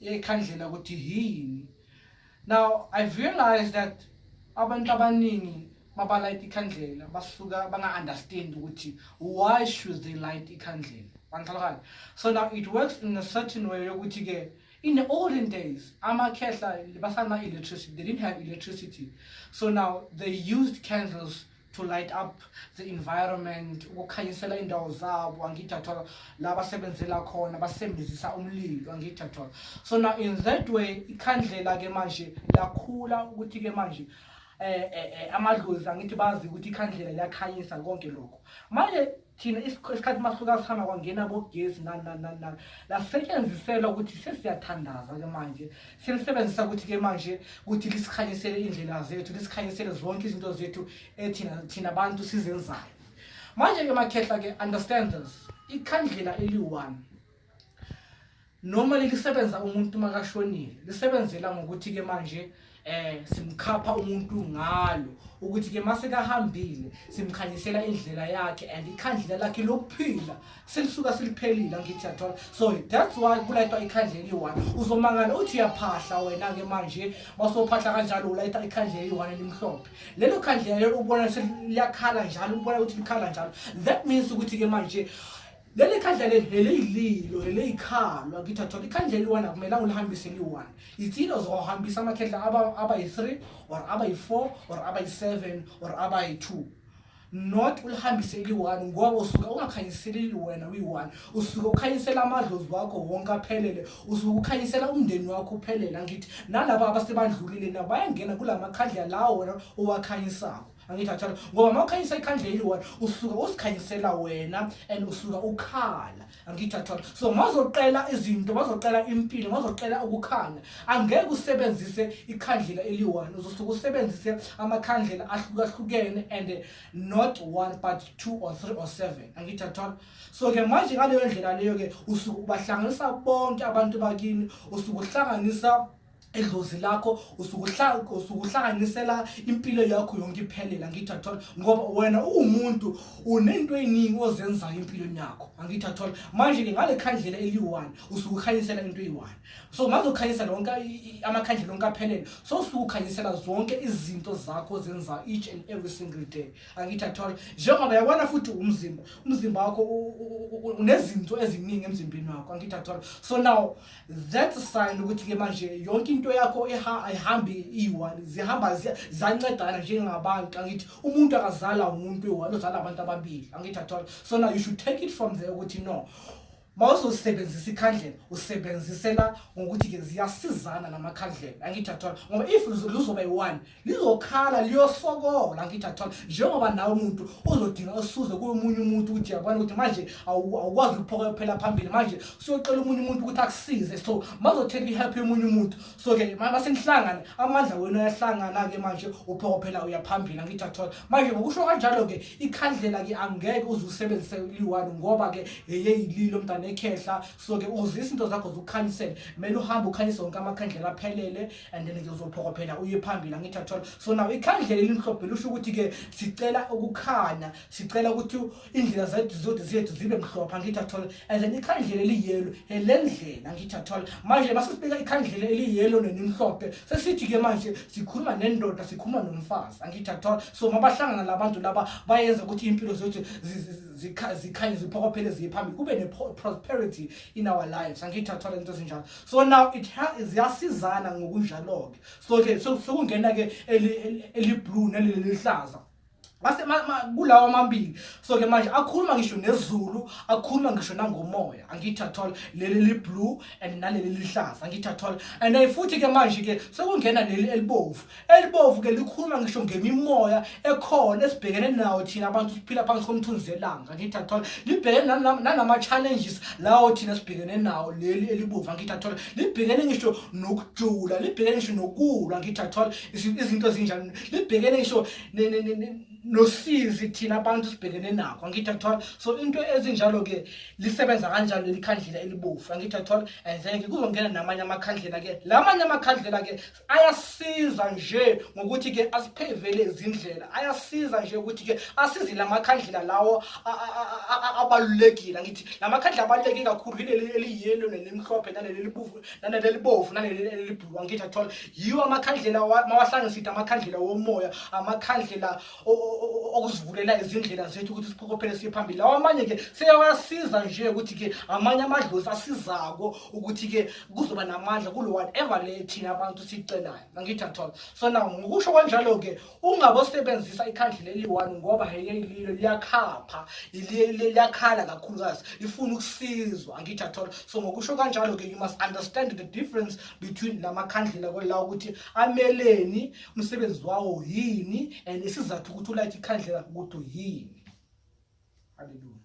ekhandlela ukuthi yini now i've realized that abantu abaningi mabalayita ikhandlela basuka banga-understand ukuthi why should they light ikhandlela bangixhalakala so now it works in a certain way yokuthi-ke in the olden days amakhehla basana-electricity they didn't have electricity so now they used candles to light up the environment ukukhanyisela indawo zabo angithathola la basebenzela khona basebenzisa umlilo angithathola so now in that way ikhandlela ke manje lakhula ukuthi ke manje eh, eh, eh amadlozi angithi bazi ukuthi ikhandlela liyakhanyisa konke lokho manje thina isikhathi masuka sihamba kwangena bogesi nani nani nani nani lasetshenziselwa ukuthi sesiyathandaza ke manje selisebenzisa ukuthi ke manje ukuthi lisikhanyisele indlela zethu lisikhanyisele zonke izinto zethu ethina thina abantu sizenzayo manje ke makhehla ke understand this ikhandlela eli-one normally lisebenza umuntu makashonile lisebenzela ngokuthi ke manje eh simkhapha umuntu ngalo ukuthi ke mase kahambile simkhanyisela indlela yakhe and ikhandlela lakhe lokuphila selisuka siliphelile ngithi yathola so that's why kulayitwa ikhandlela eliyi-one uzomangala uthi uyaphahla wena-ke manje basophahla kanjalo ulayita ikhandlela eliyi-one elimhlophe lelo khandlela lelo ubona seliyakhala njalo ubona ukuthi likhala njalo that means ukuthi-ke manje leli khandla leli heleyililo heleyikhalwa ngithathola ikhandla eliwana kumele ulihambise liyi-one yithile uzohambisa amakhehla abayi-three or abayi-four or abayi-seven or abayi-two not ulihambise eliyi-one ngoba usuke ungakhanyiseli liwena uyi-one usuke ukhanyisela amadlozi wakho wonke aphelele usuke ukhanyisela umndeni wakho uphelele angithi nalaba abasebandlulile nabo bayangena kula makhandla lawo wena owakhanyisako angithi athanda ngoba uma ukhanyisa ikhandla eliyi-one usuke usikhanyisela wena and usuke ukhala angithi athanda so mazoqela izinto mazoqela impilo mazoqela ukukhanya angeke usebenzise ikhandlela eliyi-one uzosuke usebenzise amakhandlela ahlukahlukene and not one but two or three or seven angithi athanda so-ke manje ngaleyo ndlela leyo-ke usuke ubahlanganisa bonke abantu bakini usuke uhlanganisa edlozi lakho usukuhlanganisela impilo yakho yonke iphelela angithi athola ngoba wena uwumuntu unento eningi ozenzayo empilweni yakho angithi athola manje-ke ngale khandlela eliyi-one usukukhanyisela into eyi-one so maze ukhanyisa lonke amakhandlela onke aphelele so usukukhanyisela zonke izinto zakho ozenzayo each and every single day angithi athola njengoba yabona futhi umzimba umzimba wakho unezinto eziningi emzimbeni wakho angithi athola so now that's a sign ukuthi ke manje yonke into yakho ayihambi iyi-one zihamba zancedana njengabantu angithi umuntu akazala umuntu eyi-one uzala abantu ababili angithi athola so now you should take it from there ukuthi no uma uzosebenzisa ikhandlela usebenzisela ngokuthi-ke ziyasizana namakhandlela angithi athola ngoba if luzoba yi-one lizokhala liyosokola ngithi athola njengoba nawe umuntu uzodinga usuze komunye umuntu ukuthi yabona ukuthi manje awukwazi ukuphoka phela phambili manje siyocela umunye umuntu ukuthi akusize so mazothela ihelp yomunye umuntu so ke masenihlangane amandla wenu ayahlangana ke manje uphoka phela uyaphambili ngithi athola manje ngokusho kanjalo ke ikhandlela ke angeke uze usebenzise liwani ngoba ke yeyililo mntana ekhehla so ke uzisa into zakho zokukhanyisela kumele uhambe ukhanyise wonke amakhandlela aphelele and then ke uzophokophela uye phambili angithi athola so now ikhandlela elimhlophe lusho ukuthi ke sicela ukukhanya sicela ukuthi indlela zethu zodi zethu zibe mhlophe angithi athola and then ikhandlela eliyelo elendlela angithi athola manje masifika ikhandlela eliyelo nenimhlophe sesithi ke manje sikhuluma nendoda sikhuluma nomfazi angithi athola so mabahlangana labantu laba bayenza ukuthi impilo zethu zikhanye ziphokophele ziye phambili kube ne prosperity in our lives angithi athola into ezinjalo so now it ziyasizana ngokunjalo-ke so ke sekungena-ke eliblue nelelihlaza mase kulawa amabili so ke manje akhuluma ngisho nezulu akhuluma ngisho nangomoya angithi athol leli liblue and naleli lihlaza angithi athol and futhi ke manje ke sekungena leli elibovu elibovu ke likhuluma ngisho ngemimoya ekhona esibhekene nawo thina abantu siphila phansi komthunzi elanga ngithi athola libhekene nanama-challenges lawo thina sibhekene nawo leli elibovu angithi athola libhekene ngisho nokujula libhekene ngisho nokulwa ngithi athola izinto ezinjani libhekene ngisho nosizi thina abantu sibhekene nakho angithi athola so into ezinjalo-ke lisebenza kanjalo leli khandlela elibovu angithi athola and then-ke kuzongena namanye amakhandlela-ke la manye amakhandlela-ke ayasiza nje ngokuthi ke asiphevele izindlela ayasiza nje ukuthi ke asize lamakhandlela lawo abalulekile ngithi lamakhandlela abaluleke kakhulu yileli eliyelo nelimhlophe naleli libuvu naleli libovu naleli elibhulu angithi athola yiwo amakhandlela mawahlangisithe amakhandlela womoya amakhandlela okuzivulela izindlela zethu ukuthi siphokophele siye phambili lawo amanye ke seyawasiza nje ukuthi ke amanye amadlozi asizako ukuthi ke kuzoba namandla kulo whatever le thina abantu sicelayo nangithi athola so now ngokusho kwanjalo-ke ungabosebenzisa ikhandla leli one ngoba hayililo liyakhapha liyakhala kakhulukazi lifuna ukusizwa angithi athola so ngokusho kanjalo-ke you must understand the difference between la makhandlela kwela ukuthi ameleni umsebenzi wawo yini and isizathu ukuthi ulayithe ikhandlela ukuthi yini haleluya